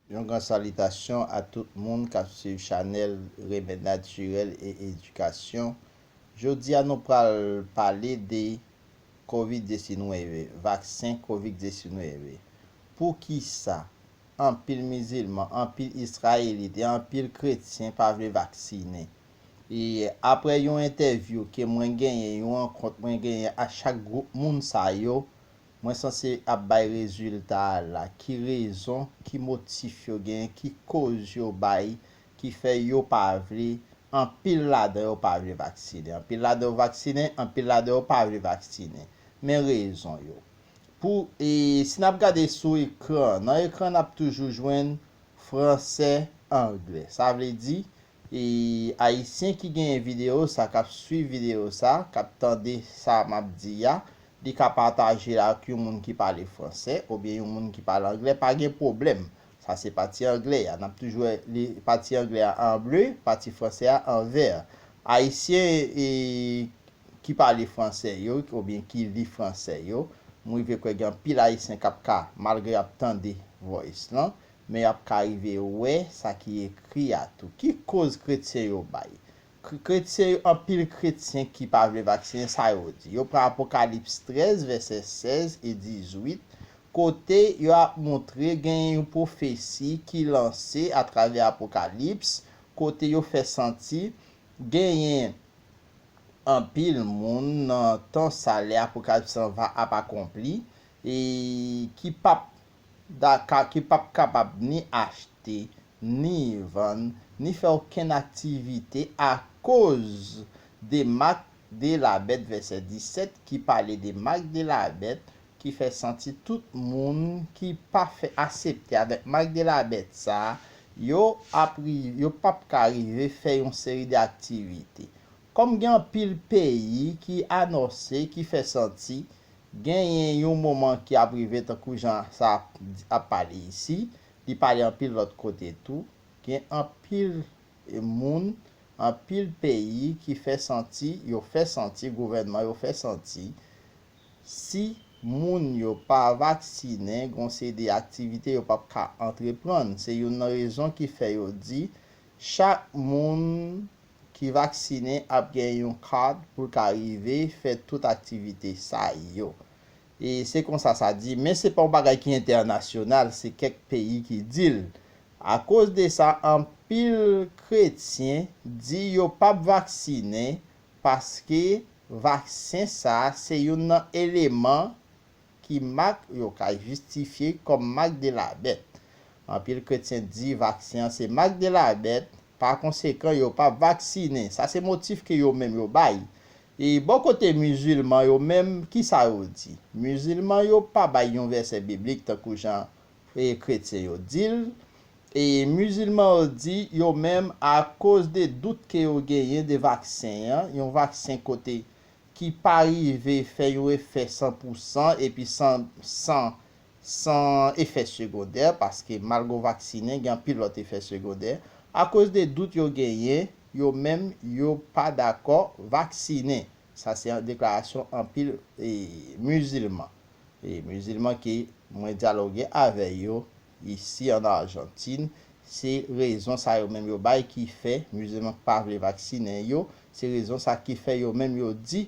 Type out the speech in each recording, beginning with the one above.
Yon gran salitasyon a tout moun kap swiv chanèl remèd natirèl e edikasyon, jodia nou pral pale de covid 19, vaksen covid 19, poukisa anpil mizilman, anpil israelit e anpil kretyen pa vle vaksinen e aprè yon entèvyou ke mwen genyen yon rankont mwen genyen ak chak gwoup moun sa yo, Mwen sanse ap bay rezilta a la. Ki rezon, ki motif yo gen, ki koz yo bay ki fè yo pa vle, anpil ladan yo pa vle vaksinen. Anpil ladan yo vaksinen, anpil ladan yo pa vle vaksinen. Men rezon yo. Pou, e si n ap gade sou ekran, nan ekran n ap toujou jwenn franse, angle. Sa vle di, E ayisyen ki genyen video sa kap swiv video sa kap tande sa map di a li ka pataje l ak yon moun ki pale fransè obyen yon moun ki pale anglè pa gen pwoblèm sa se pati anglè a nap toujou wè li pati anglè a an ble pati fransè a an vè ayisyen e ki pale fransè yo obyen ki li fransè yo m rive kwè gen anpil ayisyen kap ka malgre yap tande voice lan Men y ap ka rive wè sa ki ekri a tou. Ki koz kretyen yo bay? Kretyen yo, Anpil kretyen ki pa vle vaksinen, sa yo di? Yo pran Apokalips 13, vèsè 16 e 18, kote yo ap montre genyen yon pwofesi ki lanse atravè Apokalips, kote yo fè santi genyen anpil moun nan tan sa lè Apokalips lan va ap akonpli e ki p ap Dakar ki pap kapab ni achte, ni vann, ni fè okenn aktivite akoz de mak de la bèt vèsè 17 ki pale de mak de la bèt ki fè santi tout moun ki pa fè asepte avèk mak de la bèt sa yo ap yo pap ka rive fè yon seri de aktivite Kòm gen anpil peyi ki anòse, ki fè santi, genyen yon moman ki ap rive tankou jan sa ap pale isi, li pale anpil lòt kote tou, gen anpil moun, anpil peyi ki fè santi, yo fè santi, gouvènman yo fè santi, si moun yo pa vaksinen, gon seri aktivite yo p ap ka antreprann. Se youn nan rezon ki fè yo di, chak moun ki vaksine ap gen yon card pou l ka rive fè tout aktivite sa yo. E se konsa sa di, men se pa yon bagay ki entènasyonal, se kèk peyi ki di l. Akoz de sa, anpil kretyen di yo p ap vaksine paske vaksen sa se youn nan eleman ki mak yo ka jistifye kòm mak de la bèt. Anpil kretyen di vaksen an se mak de la bèt Pa konsekan, yo pa vaksinen. Sa se motif ke yo menm yo bay. E bò kote mizilman yo menm, ki sa yo di? Mizilman yo pa bay yon vèsè biblik tankou jan e kretyen yo di l. E mizilman yo di, yo menm, akoz de dout ke yo genyen de vaksen an, yon vaksen kote ki pa rive fè yon efè san pou san epi san san san efè segondè, paske malgre w vaksinen, gen anpil lòt efè segondè, akoz de dout yo genyen, yo menm yo pa dakò vaksinen. Sa se deklarasyon anpil mizilman. Mizilman ke mwen dyaloge avè yo isi an Arjantin, se rezon sa yo menm yo bay ki fè, mizilman ki pa vle vaksinen yo, se rezon sa ki fè yo menm yo di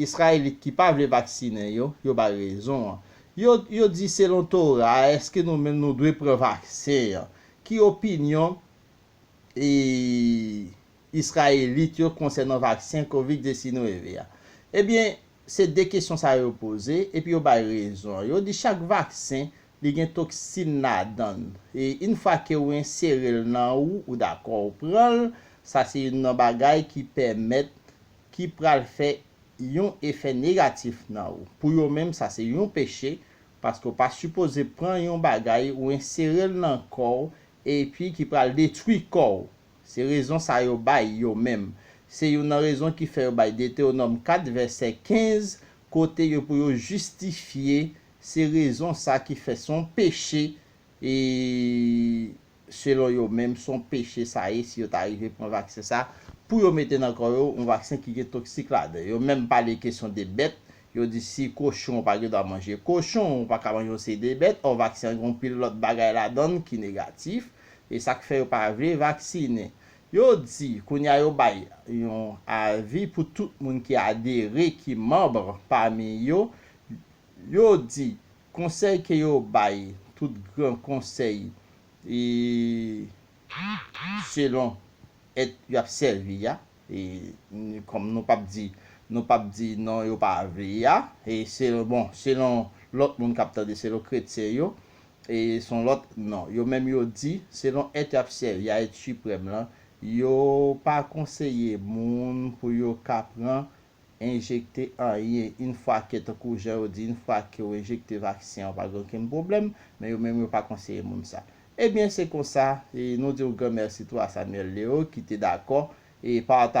Israelit ki pa vle vaksinen yo, yo bay rezon an. Yo, yo di selon Tora a eske nou menm nou dwe pran vaksen an? Ki opinyon e Israelit yo konsènan vaksen Covid 19 a? Ebyen, se 2 kesyon sa yo poze, epi yo bay rezon an. Yo di chak vaksen li gen toksin ladan l, e yn fwa ke ou ensere l nan ou, ou dakò ou pran l, sa se youn nan bagay ki pèmèt ki pral fè yon efè negatif nan ou. Pou yo menm sa se yon peche paske ou pa sipoze pran yon bagay ou ensere l nan kò w epi ki pral detwi kò w. Se rezon sa yo bay yo menm. Se youn nan rezon ki fè yo bay Detewonòm 4 vèsè 15 kote yo pou yo jistifye se rezon sa ki fè se yon peche selon yo menm son peche sa ye si yo ta rive pran vaksen sa pou yo mete nan kò yo yon vaksen ki gen toksik ladan yo menm pale kesyon de bèt yo di si kochon ou pa gen dwa manje kochon ou paka manje yon seri de bèt ò vaksen an gen yon pil lòt bagay ladann ki negatif e sak fè yo pa vle vaksinen yo di kounye a yo bay yon avi pou tout moun ki adere ki manbr pami yo yo di Konsèy ke yo bay tout gran konsèy e selon et yo ap sèvi a e kòm nou pap di nou pap di non yo pa vle a e selon bon selon lòt moun kap tande selon kretyen yo e son lòt non yo menm yo di selon et yo ap sèvi a et siprèm lan yo pa konseye moun pou yo ka pran enjekte anyen yn fwa ke tankou jan yo di yn fwa ke w enjekte vaksen an pa gen okenn pwoblèm men yo menm yo pa konseye moun sa ebyen se konsa nou diw gran mèsi tou a Samuel Leo ki te dakò pataje.